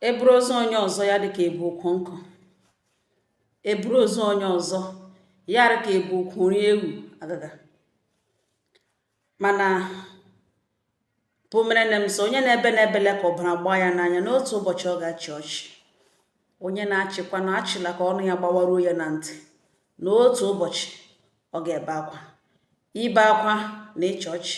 eburu ozu onye ọzọ ya dịka ebu ukwu nkụ eburu ozu onye ọzọ ya dịka ebu ukwu nri ewu agaga mana bụ mere na m sị onye na-ebe na ebela ka ọbara gbaa ya n'anya na otu ụbọchị ọ ga-achị ọchị onye na-achịkwa na achịla ka ọnụ ya gbawaruo ya na ntị na otu ụbọchị ọ ga-ebe akwa ibe akwa na ịchị ọchị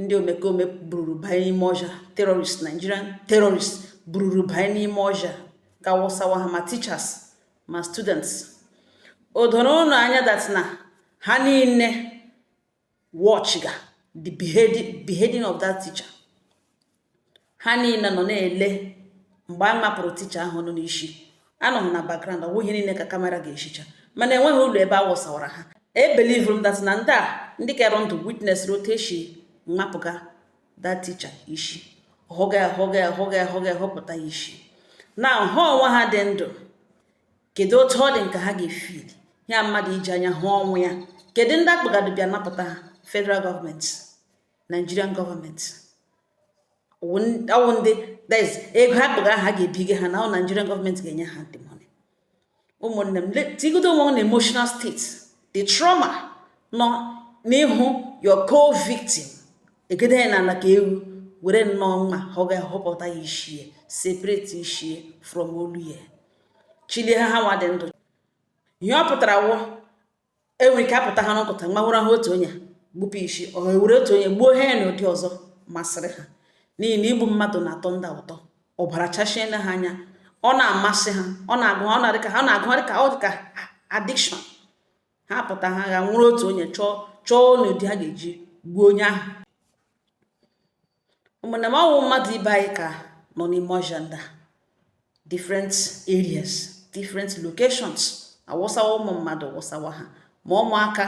ndị omekome bururu banye n'ime ọhịa terrorist nigerian terrorist bururu banye n'ime ọhịa gaa wụsawa ha ma teachers ma students o doro ụnụ anya that na ha niile watch ga the beheading of that teacher ha niile nọ na-ele mgbe a mapụrụ teacher ahụnụ isi anọghị na background ọ bụghị ihe niile ka camera ga-ahụcha mana enweghị ụlọ ebe a wụsawara ha ebelievuru m that na ndị a ndị ke dị ndụ witness otu esi mapụga that teacher isi hụga ya hụga ya hụga ya hụga ya hụpụta ya isi na ha onwe ha dị ndụ kedu otu ọ dị ụnụ ka ha ga-efeel ya mmadụ iji anya hụ ọnwụ ya kedu ndị akpagado bịa napụta ha federal government Nigerian government ọ wụ ndị that is ego ha kpọga ha ga-ebiga ha na ọ Nigerian government ga-enye ha the money ụmụnne m tigodo onwe na emotional state the trauma nọ n'ịhụ your co-victim ejide ya n'ala ka ewu were nnọọ mma họga họpụta ya ishie separate ishie from olu ya chilie ha ha nwa dị ndụ ihe ọ pụtara wụ e nwere ike apụta ha n'ụtụtụ ọma ewere ha otu onye gbupụ isi or ewere otu onye gbuo ha ya n'ụdị ọzọ masịrị ha n'ihi na igbu mmadụ na-atọ ndị a ụtọ ọbara chachiena ha anya ọ na-amasị ha ọ na-agụ ha ọ na-adị ka ha na-agụ ha dị ka ọ dị ka addiction ha pụta ha ga-ewere otu onye chọọ chọọ n'ụdị ha ga-eji gbuo onye ahụ ụmụnna m ọ wụ mmadụ ibe anyị ka nọ n'ime ọhịa ndị a different areas different locations awụsawa ụmụ mmadụ wụsawa ha ma ụmụaka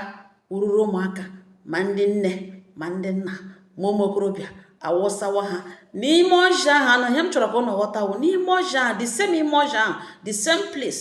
ururu ụmụaka ma ndị nne ma ndị nna ma ụmụ okorobịa awụsawa ha n'ime ọhịa ahụnụ ihe m chọrọ ka ụnụ ghọta wụ n'ime ọhịa ahụ the same ime ọhịa ahụ the same place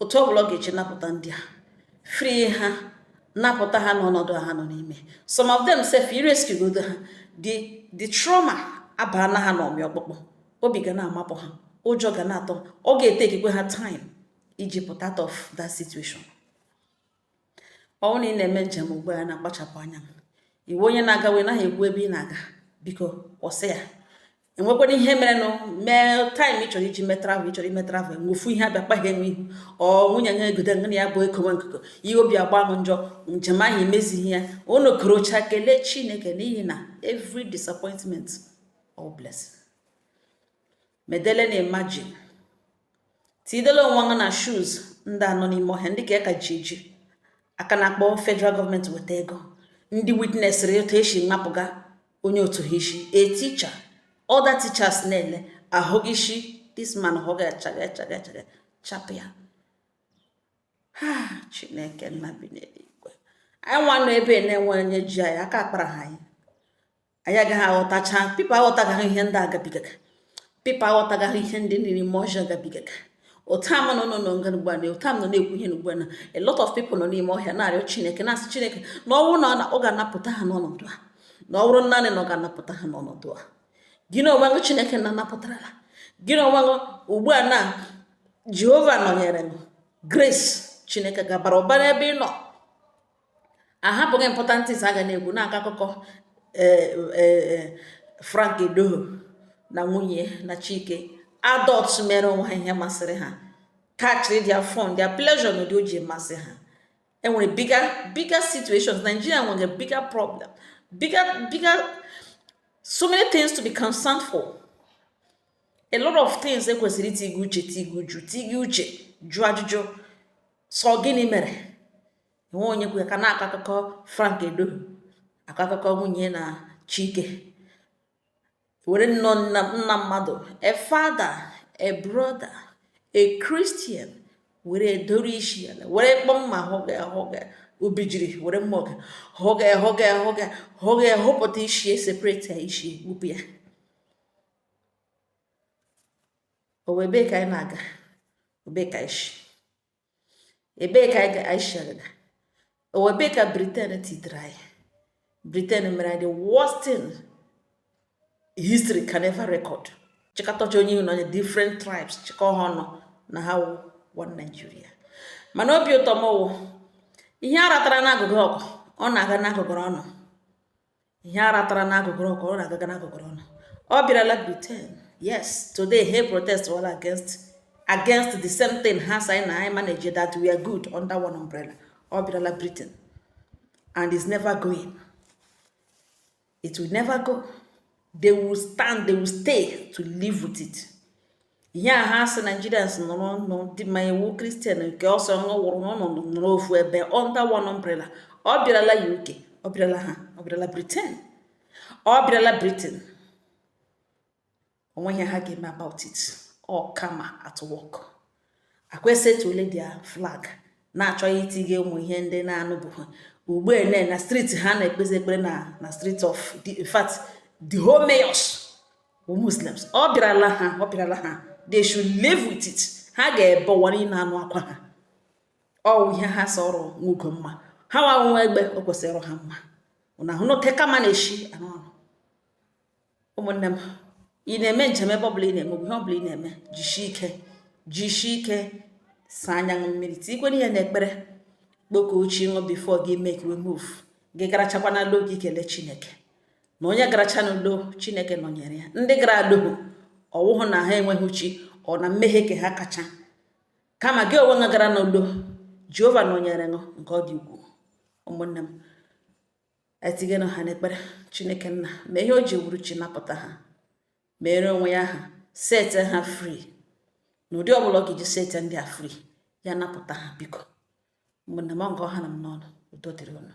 otu ọ bụla ọ ga-eji napụta ndị a free ha napụta ha n'ọnọdụ ha nọ n'ime some of them sef i rescue godo ha the the trauma abaana ha n'ọmị ọkpụkpụ obi ga na-amapụ ha ụjọ ga na-atụ ọ ga-etakekwa ha time iji pụta out of that situation ọ bụrụ na ị na-eme njem ugbu a na-akpachapụ anya ị wụ onye na-aga wee naghị ekwu ebe ị na-aga biko kwụsị ya enwekwara ihe merenụ mee time ị chọrọ iji mee travel ị chọrọ ime travel ofu ihe abịakpa ghị n'ihu or nwunye ha egodo nga na ya bụ ekowe nkụkọ ihe obi agba ghụ njọ njem ahụ emezighị ya nọkọrọcha kelee chineke n'ihi na every disappointment wụ blessing medele na imagine tidele onwe ghụ na shoes ndị a nọ n'ime ọhịa ndị ka a ka ji eji a ka na-akpọ federal government weta ego ndị witnessịrị etu esi mapụga onye otu ha isi a teacher other teachers na-ele a hụ isi this man hụga chaga chaga chaga chapụ ya ha chineke nna bi n'eluigwe anyị nwa nọ ebe na-enwe onye ji anyị aka akpara ha anyị anyị agaghị aghọtacha people aghọtagaghị ihe ndị a gabigaga people aghọtagaghị ihe ndị nọ n'ime ọhịa gabigaga otu a m nọ nọ n'oge ugbu a na otu a m nọ na-ekwu ihe n'ugbu a na a lot of people nọ n'ime ọhịa na-arịọ chineke na-asị chineke na ọ bụrụ na ọ ga-anapụta ha n'ọnọdụ a na ọ bụrụ naanị na ọ ga-anapụta ha n'ọnọdụ a gị na onwe gị chineke na anapụtarala gị na onwe gị ugbu a na jehova nọnyere m grace chineke gabara ụba n'ebe ị nọ a hapụga important things a ga na-ekwu na-akọ akụkọ eh, eh, eh, Frank Edoho na nwunye na Chike adult mere onwe ha ihe masịrị ha catchiri their fun their pleasure na ụdị o ji masị ha enwere bigger bigger situations Nigeria nwere bigger problem bigger bigger so many things to be concerned for a lot of things ekwesịrị itiga uche tiga uche tiga uche jụọ ajụjụ sị ọ gịnị mere enwe onye kwu ya ka na-akọ akụkọ Frank Edoho akọ akụkọ nwunye na Chike were nnọọ nna nna mmadụ a father a brother a Christian were edoro isi ya were kpọ mma hụga hụga obijiri were mma hụga hụga hụga hụga hụga hụpụta isi separate ya isi wepụ ya ọ wụ ebee ka anyị na-aga ọ ebee ka isi ebee ka anyị shi agaga ọ wụ ebee ka Britain tidere anyị Britain mere anyị the worst thing history can ever record chịkọtacha onye na onye different tribes chịkọ ha ọnụ na ha wụ one Nigeria mana obi ụtọ m wụ ihe a ratara n'agụgụrụ ọkụ ọ na-aga n'agụgụrụ ọnụ ihe a ratara n'agụgụrụ ọkụ ọ na-agaga n'agụgụrụ ọnụ ọ bịarala Britain yes today they protest all against against the same thing ha sị na anyị manage that we are good under one umbrella ọ bịarala Britain and it's never going it will never go they will stand they will stay to live with it ihe a ha sị nigerians nọrọ nọ dị ma ị wụ christian nke ọ sọ wụrụ n'ọnọdụ nọrọ ofu ebe under one umbrella ọ bịarala uk ọ bịarala ha ọ bịarala britain ọ bịarala britain o nweghị ihe ha ga-eme about it ọ karma at work akwa esetuole their flag na-achọzi itinye ụmụ ihe ndị na-anụbụghị ugbu a na na street ha na-ekpezi ekpere na na street of the in fact the whole mayors bụ muslims ọ bịarala ha ọ bịarala ha they should live with it ha ga-ebe ụwa a na-anụ akwa ha ọ wụ ihe ha sọrọ nwa ugo mma ha nwa nwa egbe o kwesịrị ha mma unu ahụna otu karma na-eshi arụ ọrụ ụmụnne m ị na-eme njem ebe ọbụla ị na-eme ihe ọbụla ị na-eme jisie ike jisie ike saa anya unu mmiri tikwere ihe n'ekpere kpọkuo chi unu before gị emekwe move gị garachakwa na lọ gị kelee chineke na onye garacha n'udo chineke nọnyere ya ndị gara alọhụ ọ wụhụ na ha enweghị chi or na mmehie ke ha kacha kama gị onwe gara n'udo jehova nọnyere unu nke ọ dị ukwuu ụmụnne m tinyenụ ha n'ekpere chineke nna ma ihe o ji wụrụ chi napụta ha mere onwe ya ha sete ha free na ụdị ọbụla ọ ga-eji sete ndị a free ya napụta ha biko ụmụnne m ọ ha nọ m n'ọnụ udo dịrị unu